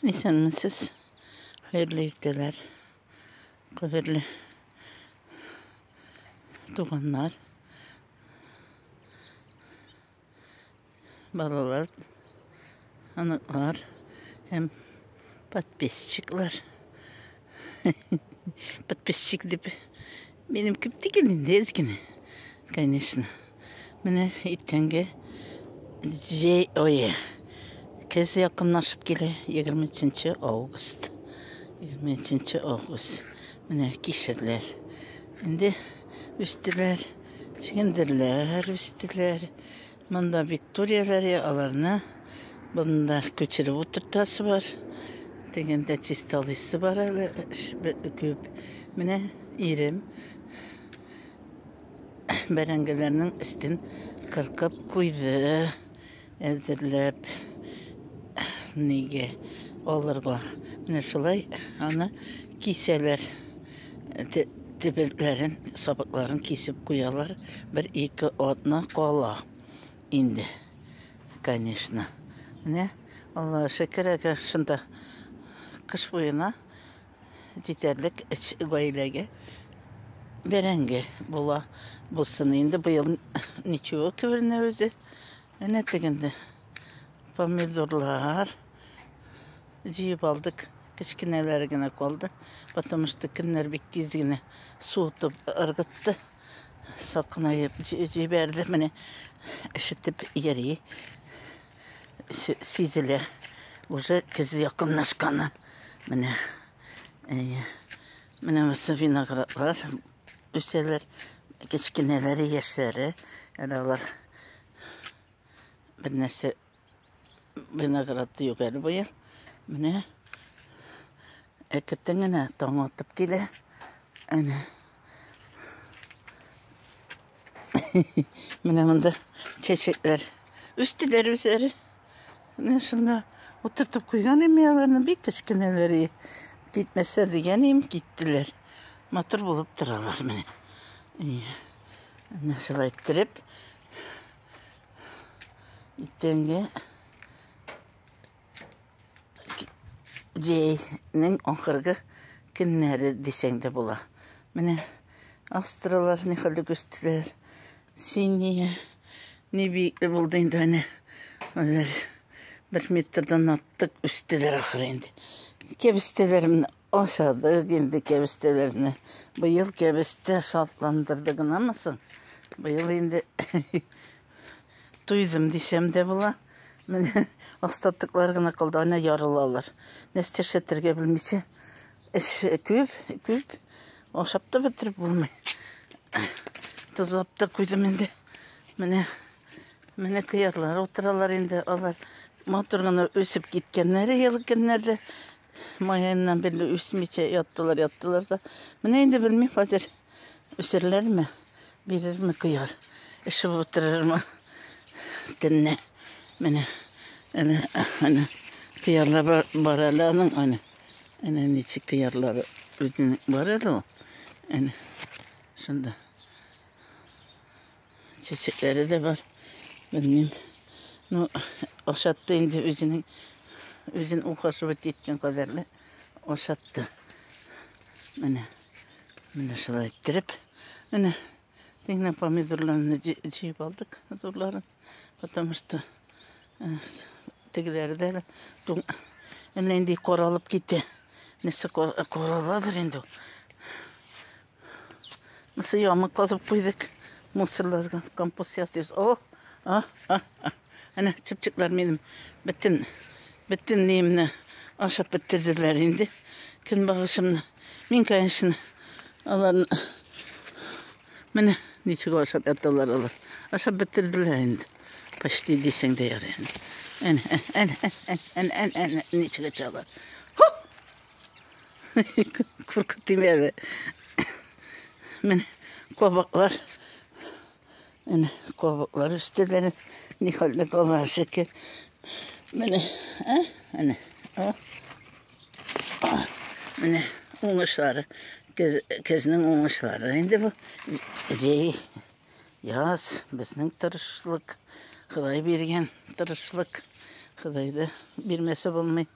Исәнмесез. Хәерле иртәләр. Кадерле туганнар. Балалар, оныклар һәм подписчиклар. Подписчик дип. Минем күп түгел инде, әз генә. Конечно. Менә иртәнге җәй ое. Көз якынлашып килә. 23 август. 23 август. Менә кишерләр. Инде үстеләр. Чигендерләр үстеләр. Монда бит турелар, аларны бында күчереп утыртасы бар. Дегендә чисталыйсы бар әле күп. Менә ирем бәрәңгеләрнең өстен кыркып куйды, әзерләп нигә алырга. Менә шулай аны кисәләр. Тепәлкләрен, сабакларын кисеп куялар. Бер ике атна кала инде. Конечно. Менә Алла шәкер әгәр шунда кыш буена җитәрлек эч гаиләгә бәрәңге була. Булсын инде быел ничего кеберне үзе. Әнә тегендә помидорлар җыеп алдык. Кечкенәләре генә калды. Потому что көннәр бик тиз генә суытып ыргытты. Сакынайып җибәрде. Менә ишетеп йөри. Сизелә. Уже көз якынлашканы. Менә. Әйе. Менә виноградлар. үсәләр. Кечкенәләре, яшьләре. Әле алар бер нәрсә виноград юк әле быел. Менә әкертен генә таң атып килә. Әнә. Менә монда чәчәкләр үсте дә үзләре. Менә шунда утыртып куйган инде аларны бик кечкенәләр. Китмәсләр дигән им, киттеләр. Матур булып торалар менә. Менә шулай иттереп. Итәнгә җәйнең ахыргы көннәре дисәң дә була. Менә астралар ни хәлле күстеләр. Синия ни биекле булды инде әнә. Алар бер метрдан артык үстеләр ахыр инде. Кәбестәләремне Ашадык инде кәбестәләрне. Быел кәбестә шатландырды гынамы соң? Быел инде туйдым дисәм дә була. Менә остатыклар гына калды, ана ярылалар. Нәрсә эшләтергә белмичә, эш күп, күп. Ашап та бетереп булмый. Тозлап та куйдым инде. Менә менә кыярлар утыралар инде. Алар матур гына үсеп киткәннәр ел көннәрдә. Майяннан бирле үсмичә яттылар, яттылар да. Менә инде белмим хәзер үсерләрме, бирерме кыяр, эшеп утырырмы төнне. Менә, әнә, әнә, кыярлар бар, бар әле аның, әнә. Әнә ничек кыярлары үзенең бар әле ул. Әнә, шунда. Чәчәкләре дә бар. Белмим. Ну, ашатты инде үзенең үзен ухаживать иткән кадәрле ашатты. Менә. Менә шулай иттереп. Менә Дегенә помидорларны җыйып алдык, зурларын. Потому что э, тегеләре дә әле туң. Әллә инде каралып китте. Нәрсә караладыр инде ул. Мысы ямы казып куйдык. Мусорларга компост ясыйбыз. О, а, а, а. Әнә чыпчыклар минем бөтен бөтен ниемне ашап бетерделәр инде. Көнбагышымны. Мин, конечно, аларны Менә ничек ашап яталар алар. Ашап бетерделәр инде. Почти дисең дә ярый. Әнә, әнә, әнә, әнә, әнә, ничек ачалар. Куркып тимәде. Менә кабаклар. Менә кабаклар үстеләр. Ни хәлдә калар шикер. Менә, ә? Менә. О. Менә уңышлары. Кез, кезнең уңышлары. Инде бу җәй яз безнең тырышлык. Ходай биргән тырышлык. Худайды бирмәсә булмый.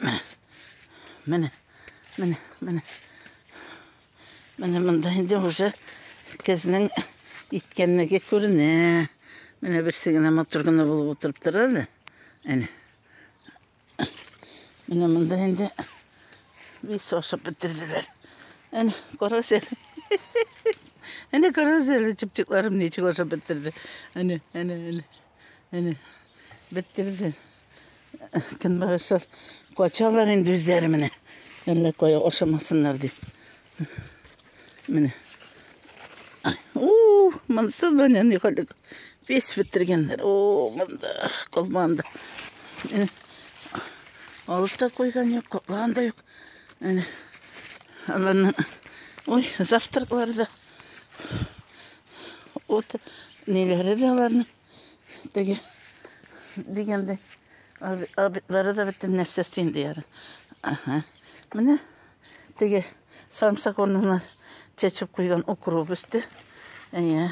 Менә. Менә. Менә. Менә. Менә монда инде уже кезнең иткәнлеге күренә. Менә берсе генә матур гына булып утырып тора әле. Әнә. Менә монда инде весь ашап бетерделәр. Әнә, карагыз әле. Әнә карагыз әле, чыпчыкларым ничек ашап бетерде. Әнә, әнә, әнә. Әнә. Бетерде. Көнбагышлар качалар инде үзләре менә. Әллә кая ашамасыннар дип. Менә. Ух, монсы да не ни халык. Пес бетергәннәр. О, монда калманды. Э, Алып та куйган юк, калган да юк. Менә. Аларны. Ой, завтраклар да. Вот неләре дә аларның. Теге дигәндә абитлары да бөтен нәрсә син дияр. Ага. Менә теге самсак урнына чәчеп куйган укроп өсте. Әйе.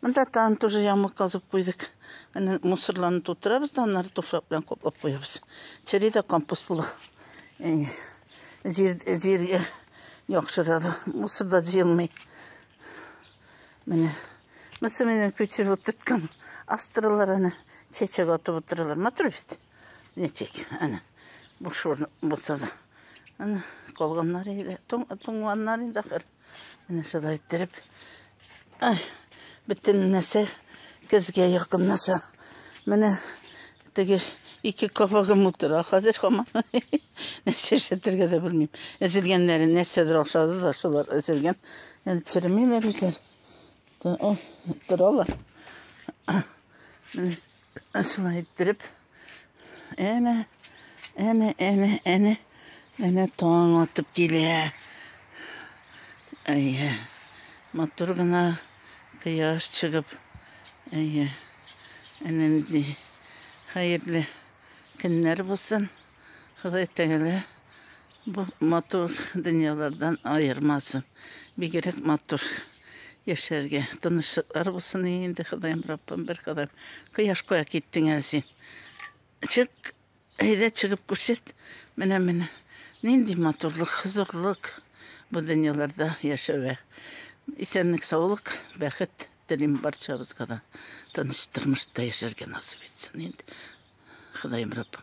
Монда тан тоже ямык казып куйдык. Әнә мусорларны тутырабыз да аннары туфрак белән каплап куябыз. Чери дә компост була. Әйе. Җир җиргә яхшырады. Мусор да җыелмый. Менә Мысы менен күчеп утырткан астралар аны чәчәк атып утыралар. Матур бит. Ничек? Ана. Бу шур булса да. Ана калганнар иде. Тон тонганнар инде ахыр. Менә шулай иттереп. Ай, бөтен нәрсә көзгә якынлаша. Менә Теге ике кабагым утыра хәзер һаман. Нәрсә эшләтергә дә белмим. Эзелгәннәре нәрсәдер охшады да шулар эзелгән. Әле черемиләр үзләр. Торалар. Шулай иттереп. Әнә, әнә, әнә, әнә, әнә таң атып килә. Әйе. Матур гына кояш чыгып. Әйе. Әнәнди хәерле көннәр булсын. Ходай Тәгалә бу матур дөньялардан аермасын. Бигрәк матур яшәргә тынычлыклар булсын инде, Ходаем Раббым, бер кадам кояш куя киттең әле син. Чык, Әйдә чыгып күрсәт, менә менә нинди матурлык, хозурлык бу дөньяларда яшәве. Исәнлек, саулык, бәхет телим барчабызга да. Тыныч тормышта яшәргә насыйп итсен инде Ходаем Раббым.